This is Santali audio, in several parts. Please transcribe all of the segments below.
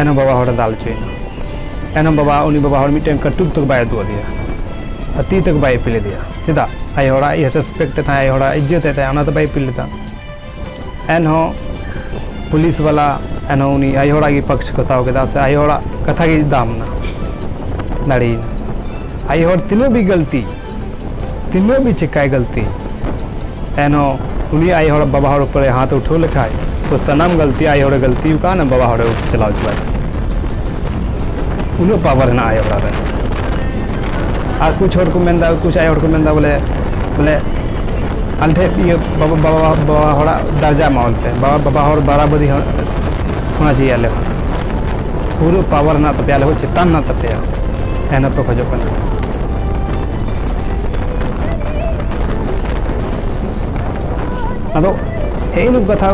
ᱮᱱᱚᱢ ᱵᱟᱵᱟ ᱦᱚᱲᱮ ᱫᱟᱞ ᱦᱚᱪᱚᱭᱮᱱᱟ ᱮᱱᱚᱢ ᱵᱟᱵᱟ ᱩᱱᱤ ᱵᱟᱵᱟ ᱦᱚᱲ ᱢᱤᱫᱴᱮᱱ ᱠᱟᱹᱴᱩᱵ ᱛᱮ ᱵᱟᱭ ᱩᱫᱩᱜ ᱟᱫᱮᱭᱟ ᱟᱨ ᱛᱤ ᱛᱮ ᱵᱟᱭ ᱤᱯᱤᱞ ᱟᱫᱮᱭᱟ ᱪᱮᱫᱟᱜ ᱟᱡ ᱦᱚᱲᱟᱜ ᱤᱭᱟᱹ ᱨᱮᱥᱯᱮᱠᱴ ᱮ ᱛᱟᱦᱮᱸ ᱟᱡ ᱦᱚᱲᱟᱜ ᱤᱡᱽᱡᱚᱛ ᱮ ᱛᱟᱦᱮᱸ ᱚᱱᱟ ᱫᱚ ᱵᱟᱭ ᱤᱯᱤᱞ ᱞᱮᱫᱟ ᱮᱱᱦᱚᱸ ᱯᱩᱞᱤᱥ ᱵᱟᱞᱟ ᱮᱱᱦᱚᱸ ᱩᱱᱤ ᱟᱡ ᱦᱚᱲᱟᱜ ᱜᱮ ᱯᱚᱠᱥ ᱠᱚ ᱦᱟᱛᱟᱣ ᱠᱮᱫᱟ ᱥᱮ ᱟᱡ ᱦᱚᱲᱟᱜ ᱠᱟᱛᱷᱟ ᱜᱮ ᱫᱟᱢ ᱮᱱᱟ ᱫᱟᱲᱮᱭᱮᱱᱟ ᱟᱡ ᱦᱚᱲ ᱛᱤᱱᱟᱹᱜ ᱜᱮ ᱜᱟᱹᱞᱛᱤ ᱛᱤᱱᱟᱹᱜ ᱵᱤ ᱪᱮᱠᱟᱭ ᱜᱟᱹᱞᱛᱤ ᱮᱱᱦᱚᱸ ᱩᱱᱤ ᱟᱡ ᱦᱚᱲ ᱵᱟᱵᱟ ᱦᱚᱲ ᱩᱯᱚᱨᱮ ᱦᱟᱛ ᱩᱴᱷᱟᱹᱣ ᱞᱮᱠᱷᱟᱡ ᱛᱚ ᱥᱟᱱᱟᱢ ᱜᱟᱹᱞᱛᱤ ᱟᱡ ᱦᱚᱲᱮ ᱜᱟᱹᱞᱛᱤ ᱟᱠᱟᱫ ᱵᱟᱵᱟ ᱦᱚᱲᱮ ᱪᱟᱞᱟᱣ ᱪᱟᱵᱟᱭ ᱩᱱᱟᱹᱜ ᱯᱟᱣᱟᱨ ᱦᱮᱱᱟᱜᱼᱟ ᱟᱡ ᱚᱲᱟᱜ ᱨᱮ ᱟᱨ ᱠᱩᱪ ᱦᱚᱲ ᱠᱚ ᱢᱮᱱᱫᱟ ᱠᱩᱪ ᱟᱡ ᱦᱚᱲ ᱠᱚ ᱢᱮᱱᱫᱟ ᱵᱚᱞᱮ ᱵᱚᱞᱮ ᱟᱞᱮ ᱴᱷᱮᱡ ᱤᱭᱟᱹ ᱵᱟᱵᱟ ᱵᱟᱵᱟ ᱵᱟᱵᱟ ᱦᱚᱲᱟᱜ ᱫᱟᱨᱡᱟ ᱮᱢᱟ ᱚᱱᱛᱮ ᱵᱟᱵᱟ ᱵᱟᱵᱟ ᱦᱚᱲ ᱵᱟᱨᱟᱵᱟᱹᱨᱤ ᱦᱚᱲ ᱚᱱᱟ ᱪᱮᱫ ᱟᱞᱮ ᱦᱚᱸ ᱯᱩᱨᱟᱹ ᱯᱟᱣᱟᱨ ᱦᱮᱱᱟᱜ ᱛᱟᱯᱮᱭᱟ ᱟᱞᱮ ᱦᱚᱸ ᱪᱮᱛᱟᱱ ᱦᱮᱱᱟᱜ ᱛᱟᱯᱮᱭᱟ ᱮᱱ ᱦᱚᱸᱯᱮ ᱠᱷᱚᱡᱚᱜ ᱠᱟᱱᱟ ᱟᱫᱚ ᱦᱮᱸ ᱱᱩᱠᱩ ᱠᱟᱛᱷᱟ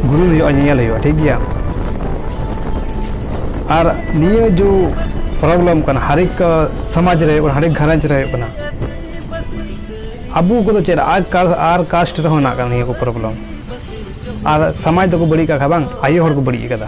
ᱜᱩᱨᱩ ᱦᱩᱭᱩᱜᱼᱟ ᱧᱮᱧᱮᱞ ᱦᱩᱭᱩᱜᱼᱟ ᱴᱷᱤᱠ ᱜᱮᱭᱟ ᱟᱨ ᱱᱤᱭᱟᱹ ᱡᱚ ᱯᱨᱚᱵᱞᱮᱢ ᱠᱟᱱᱟ ᱦᱟᱨᱮᱠ ᱥᱚᱢᱟᱡᱽ ᱨᱮ ᱦᱟᱨᱮᱠ ᱜᱷᱟᱨᱚᱸᱡᱽ ᱨᱮ ᱦᱩᱭᱩᱜ ᱠᱟᱱᱟ ᱟᱵᱚ ᱠᱚᱫᱚ ᱪᱮᱫ ᱟᱨ ᱟᱨ ᱠᱟᱥᱴ ᱨᱮᱦᱚᱸ ᱦᱮᱱᱟᱜ ᱠᱟᱱᱟ ᱱᱤᱭᱟᱹ ᱠᱚ ᱯᱨᱚᱵᱞᱮᱢ ᱟᱨ ᱥᱚᱢᱟᱡᱽ ᱫᱚᱠᱚ ᱵᱟᱹᱲᱤᱡ ᱠᱟᱜ ᱠᱷᱟᱱ ᱵᱟᱝ ᱟᱭᱳ ᱦᱚᱲ ᱠᱚ ᱵᱟᱹᱲᱤᱡ ᱠᱟᱫᱟ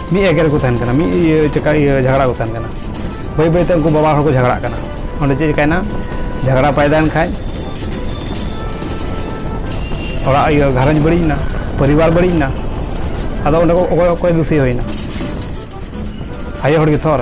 ᱢᱤᱫ ᱮᱜᱮᱨ ᱠᱚ ᱛᱟᱦᱮᱱ ᱠᱟᱱᱟ ᱢᱤᱫ ᱤᱭᱟᱹ ᱪᱮᱠᱟ ᱤᱭᱟᱹ ᱡᱷᱟᱜᱽᱲᱟ ᱠᱚ ᱛᱟᱦᱮᱱ ᱠᱟᱱᱟ ᱵᱟᱹᱭ ᱵᱟᱹᱭ ᱛᱮ ᱩᱱᱠᱩ ᱵᱟᱵᱟ ᱦᱚᱲ ᱠᱚ ᱡᱷᱟᱜᱽᱲᱟᱜ ᱠᱟᱱᱟ ᱚᱸᱰᱮ ᱪᱮᱫ ᱪᱮᱠᱟᱭᱮᱱᱟ ᱡᱷᱟᱜᱽᱲᱟ ᱯᱟᱭᱫᱟᱭᱮᱱ ᱠᱷᱟᱡ ᱚᱲᱟᱜ ᱤᱭᱟᱹ ᱜᱷᱟᱨᱚᱸᱡᱽ ᱵᱟᱹᱲᱤᱡ ᱮᱱᱟ ᱯᱚᱨᱤᱵᱟᱨ ᱵᱟᱹᱲᱤᱡ ᱮᱱᱟ ᱟᱫᱚ ᱚᱸᱰᱮ ᱚᱠᱚᱭ ᱚᱠᱚᱭ ᱫᱩᱥᱤ ᱦᱩᱭᱱᱟ ᱟᱭᱳ ᱦᱚᱲ ᱜᱮ ᱛᱷᱚᱨ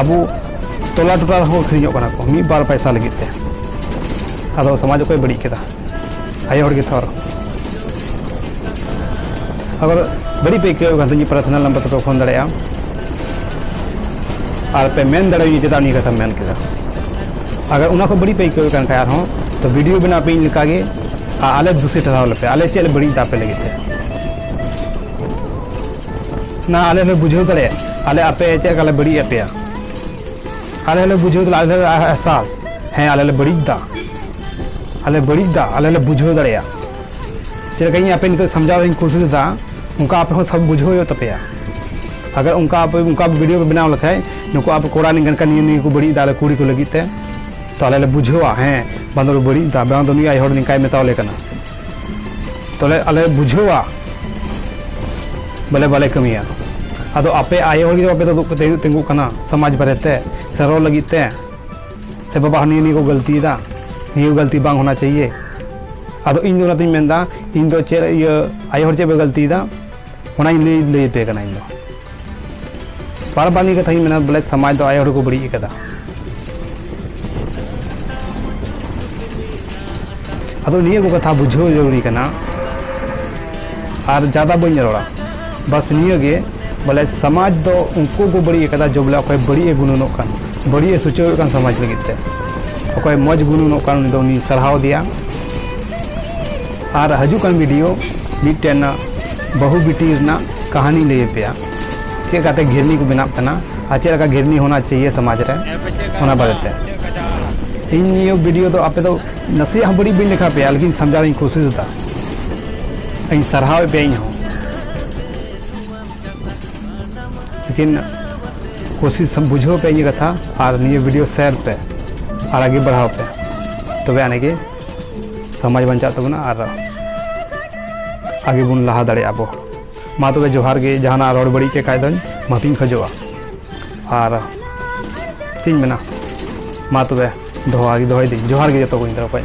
ᱟᱵᱚ ᱴᱚᱞᱟ ᱴᱚᱴᱟ ᱨᱮᱦᱚᱸ ᱟᱹᱠᱷᱨᱤᱧᱚᱜ ᱠᱟᱱᱟ ᱠᱚ ᱢᱤᱫ ᱵᱟᱨ ᱯᱟᱭᱥᱟ ᱞᱟᱹᱜᱤᱫ ᱛᱮ ᱟᱫᱚ ᱥᱚᱢᱟᱡᱽ ᱚᱠᱚᱭ ᱵᱟᱹᱲᱤᱡ ᱠᱮᱫᱟ ᱟᱭᱳ ᱦᱚᱲ ᱜᱮ ᱛᱷᱚᱨ ᱟᱜᱚᱨ ᱵᱟᱹᱲᱤᱡ ᱯᱮ ᱟᱹᱭᱠᱟᱹᱣ ᱠᱟᱱ ᱛᱤᱧ ᱯᱟᱨᱥᱚᱱᱟᱞ ᱱᱟᱢᱵᱟᱨ ᱛᱮᱯᱮ ᱯᱷᱳᱱ ᱫᱟᱲᱮᱭᱟᱜᱼᱟ ᱟᱨ ᱯᱮ ᱢᱮᱱ ᱫᱟᱲᱮᱭᱟᱹᱧᱟ ᱪᱮᱫᱟᱜ ᱱᱤᱭᱟᱹ ᱠᱟᱛᱷᱟᱢ ᱢᱮᱱ ᱠᱮᱫᱟ ᱟᱜᱚᱨ ᱚᱱᱟ ᱠᱷᱚᱱ ᱵᱟᱹᱲᱤᱡ ᱯᱮ ᱟᱹᱭᱠᱟᱹᱣ ᱠᱟᱱ ᱠᱷᱟᱡ ᱟᱨᱦᱚᱸ ᱛᱚ ᱵᱷᱤᱰᱤᱭᱳ ᱵᱮᱱᱟᱣ ᱯᱮ ᱤᱧ ᱞᱮᱠᱟᱜᱮ ᱟᱨ ᱟᱞᱮ ᱫᱩᱥᱤ ᱴᱷᱟᱨᱟᱣ ᱞᱮᱯᱮ ᱟᱞᱮ ᱪᱮᱫ ᱞᱮ ᱵᱟᱹᱲᱤᱡ ᱫᱟ ᱟᱯᱮ ᱞᱟᱹᱜᱤᱫ ᱛᱮ ᱱᱟ ᱟᱞᱮ ᱞᱮ ᱵᱩᱡᱷᱟᱹᱣ ᱫᱟᱲᱮ ᱟᱞᱮ ᱟᱯᱮ ᱪᱮᱫ ᱞᱮᱠᱟ ᱞᱮ ᱵᱟᱹᱲᱤᱡ ᱟᱯᱮᱭᱟ ᱟᱞᱮ ᱞᱮ ᱵᱩᱡᱷᱟᱹᱣ ᱫᱟᱲᱮ ᱟᱞᱮ ᱮᱦᱥᱟᱥ ᱦᱮᱸ ᱟᱞᱮ ᱞᱮ ᱵᱟᱹᱲᱤᱡ ᱫᱟ ᱟᱞᱮ ᱵᱟᱹᱲᱤᱡ ᱫᱟ ᱟᱞᱮ ᱞᱮ ᱵᱩᱡᱷᱟᱹᱣ ᱫᱟᱲᱮᱭᱟ ᱪᱮᱫ ᱞᱮᱠᱟ ᱤᱧ ᱟᱯᱮ ᱱᱤᱛᱚᱜ ᱥᱟᱢᱡᱟᱣ ᱤᱧ ᱠᱳᱥᱤᱥ ᱫᱟ ᱚᱱᱠᱟ ᱟᱯᱮ ᱦᱚᱸ ᱥᱟᱵ ᱵᱩᱡᱷᱟᱹᱣ ᱦᱩᱭᱩᱜ ᱛᱟᱯᱮᱭᱟ ᱟᱜᱟᱨ ᱚᱱᱠᱟ ᱟᱯᱮ ᱚᱱᱠᱟ ᱵᱷᱤᱰᱤᱭᱳ ᱯᱮ ᱵᱮᱱᱟᱣ ᱞᱮᱠᱷᱟᱡ ᱱᱩᱠᱩ ᱟᱯᱮ ᱠᱚᱲᱟ ᱱᱤᱝᱠᱟᱱ ᱠᱟᱱ ᱱᱤᱭᱟᱹ ᱱᱤᱭᱟᱹ ᱠᱚ ᱵᱟᱹᱲᱤᱡ ᱫᱟ ᱟᱞᱮ ᱠᱩᱲᱤ ᱠᱚ ᱞᱟᱹᱜᱤᱫ ᱛᱮ ᱛᱚ ᱟᱞᱮ ᱞᱮ ᱵᱩᱡᱷᱟᱹᱣᱟ ᱦᱮᱸ ᱵᱟᱝ ᱫᱚ ᱵᱟᱹᱲᱤᱡ ᱫᱟ ᱵᱟᱝ ᱫᱚ ᱱᱩᱭ ᱟᱡ ᱦᱚᱲ ᱱᱤᱝᱠᱟᱭ ᱢᱮᱛᱟᱣ ᱞᱮ ᱠᱟᱱᱟ ᱛᱚᱞᱮ ᱟᱞᱮ ᱵᱩᱡᱷᱟᱹᱣᱟ ᱵᱚᱞᱮ ᱵᱟᱞᱮ ᱠᱟᱹᱢᱤᱭᱟ ᱟᱫᱚ ᱟᱯᱮ ᱟᱭᱳ ᱦᱚᱲ ᱜᱮ ᱟᱯᱮ ᱫᱚ ᱫᱩᱠ ᱠᱟᱛᱮ ᱛᱤᱸᱜᱩᱜ ᱠᱟᱱᱟ ᱥᱚᱢᱟᱡᱽ ᱵᱟᱨᱮᱛᱮ ᱥᱮ ᱨᱚᱲ ᱞᱟᱹᱜᱤᱫ ᱛᱮ ᱥᱮ ᱵᱟᱵᱟ ᱱᱤᱭᱟᱹ ᱱᱤᱭᱟᱹ ᱠᱚ ᱜᱟᱹᱞᱛᱤᱭᱮᱫᱟ ᱱᱤᱭᱟᱹ ᱜᱟᱹᱞᱛᱤ ᱵᱟᱝ ᱦᱳᱱᱟ ᱪᱟᱦᱤᱭᱮ ᱟᱫᱚ ᱤᱧ ᱫᱚ ᱚᱱᱟᱛᱤᱧ ᱢᱮᱱᱫᱟ ᱤᱧ ᱫᱚ ᱪᱮᱫ ᱤᱭᱟᱹ ᱟᱭᱳ ᱦᱚᱲ ᱪᱮᱫ ᱯᱮ ᱜᱟᱹᱞᱛᱤᱭᱮᱫᱟ ᱚᱱᱟᱧ ᱞᱟᱹᱭ ᱞᱟᱹᱭ ᱟᱯᱮ ᱠᱟᱱᱟ ᱤᱧ ᱫᱚ ᱵᱟᱨ ᱵᱟᱨ ᱱᱤᱭᱟᱹ ᱠᱟᱛᱷᱟᱧ ᱢᱮᱱᱟ ᱵᱚᱞᱮ ᱥᱚᱢᱟᱡᱽ ᱫᱚ ᱟᱭᱳ ᱦᱚᱲ ᱠᱚ ᱵᱟᱹᱲᱤᱡ ᱟᱠᱟᱫᱟ ᱟᱫᱚ ᱱᱤᱭᱟᱹ ᱠᱚ ᱠᱟᱛᱷᱟ ᱵᱩᱡᱷᱟᱹᱣ ᱡᱟᱹᱨᱩᱨᱤ ᱠᱟᱱᱟ ᱟᱨ ᱡᱟᱫᱟ ᱵᱟᱹᱧ ᱨᱚᱲᱟ ᱵᱟᱥ ᱱᱤᱭᱟᱹ ᱜᱮ ᱵᱚᱞᱮ ᱥᱚᱢᱟᱡᱽ ᱫᱚ ᱩᱱᱠᱩ ᱠᱚ ᱵᱟᱹᱲᱤᱡ ᱟᱠᱟᱫᱟ ᱡᱮ ᱵᱚᱞᱮ ᱚᱠᱚᱭ ᱵᱟᱹᱲᱤᱡ ᱮ ᱜᱩᱱᱟᱹᱱᱚᱜ ᱠᱟᱱ ᱵᱟᱹᱲᱤᱡ ᱮ ᱥᱩᱪᱟᱹᱣᱮᱫ ᱠᱟᱱ ᱥᱚᱢᱟᱡᱽ ᱞᱟᱹᱜᱤᱫ ᱛᱮ ᱚᱠᱚᱭ ᱢᱚᱡᱽ ᱜᱩᱱᱟᱹᱱᱚᱜ ᱠᱟᱱ ᱩᱱᱤ ᱫᱚ ᱩᱱᱤ ᱥᱟᱨᱦᱟᱣ ᱫᱮᱭᱟ ᱟᱨ ᱦᱟᱡᱩᱜ ᱠᱟᱱ ᱵᱷᱤᱰᱤᱭᱳ ᱢᱤᱫᱴᱮᱱ ᱵᱟᱹᱦᱩ ᱵᱤᱴᱤ ᱨᱮᱱᱟᱜ ᱠᱟᱹᱦᱱᱤ ᱞᱟᱹᱭ ᱯᱮᱭᱟ ᱪᱮᱫ ᱞᱮᱠᱟᱛᱮ ᱜᱷᱤᱨᱱᱤ ᱠᱚ ᱵᱮᱱᱟᱜ ᱠᱟᱱᱟ ᱟᱨ ᱪᱮᱫ ᱞᱮᱠᱟ ᱜᱷᱤᱨᱱᱤ ᱦᱚᱱᱟ ᱪᱟᱦᱤᱭᱮ ᱥᱚᱢᱟᱡᱽ ᱨᱮ ᱚᱱᱟ ᱵᱟᱨᱮᱛᱮ ᱤᱧ ᱱᱤᱭᱟᱹ ᱵᱷᱤᱰᱤᱭᱳ ᱫᱚ ᱟᱯᱮ ᱫᱚ ᱱᱟᱥᱮᱭᱟᱜ ᱦᱚᱸ ᱵᱟᱹᱲᱤᱡ ᱵᱟᱹᱧ ᱞᱮᱠᱷᱟ ᱯᱮᱭᱟ ᱞᱮᱠᱤᱱ ᱥᱟᱢᱡᱟᱣ ᱤᱧ ᱠᱳᱥᱤᱥ ᱮᱫᱟ ᱤᱧ ᱥᱟᱨᱦᱟᱣᱮᱫ ᱯᱮᱭᱟ ᱤᱧ ᱦᱚᱸ ᱞᱮᱠᱤᱱ ᱠᱳᱥᱤᱥ ᱵᱩᱡᱷᱟᱹᱣ ᱯᱮ ᱤᱧᱟᱹᱜ ᱠᱟᱛᱷᱟ ᱟᱨ ᱱᱤᱭᱟᱹ ᱵᱷᱤᱰᱤᱭᱳ ᱥᱮᱭᱟᱨ ᱯᱮ ᱟᱨ ᱟᱜᱮ ᱵᱟᱲᱦᱟᱣ ᱯᱮ ᱛᱚᱵᱮ ᱟᱹᱱᱤᱡ ᱜᱮ ᱥᱚᱢᱟᱡᱽ ᱵᱟᱧᱪᱟᱜ ᱛᱟᱵᱚᱱᱟ ᱟᱨ ᱟᱜᱮ ᱵᱚᱱ ᱞᱟᱦᱟ ᱫᱟᱲᱮᱭᱟᱜᱼᱟ ᱟᱵᱚ ᱢᱟ ᱛᱚᱵᱮ ᱡᱚᱦᱟᱨ ᱜᱮ ᱡᱟᱦᱟᱱᱟᱜ ᱨᱚᱲ ᱵᱟᱹᱲᱤᱡ ᱠᱮ ᱠᱷᱟᱡ ᱫᱚᱧ ᱢᱟᱹᱯᱤᱧ ᱠᱷᱚᱡᱚᱜᱼᱟ ᱟᱨ ᱪᱮᱫ ᱤᱧ ᱢᱮᱱᱟ ᱢᱟ ᱛᱚᱵᱮ ᱫᱚᱦᱚ ᱫᱚᱦᱚᱭᱮᱫᱟᱹᱧ ᱡᱚᱦᱟᱨ ᱜᱮ ᱡᱚᱛᱚ ᱠᱚᱧ ᱫᱚᱦᱚ ᱠᱷᱚᱡ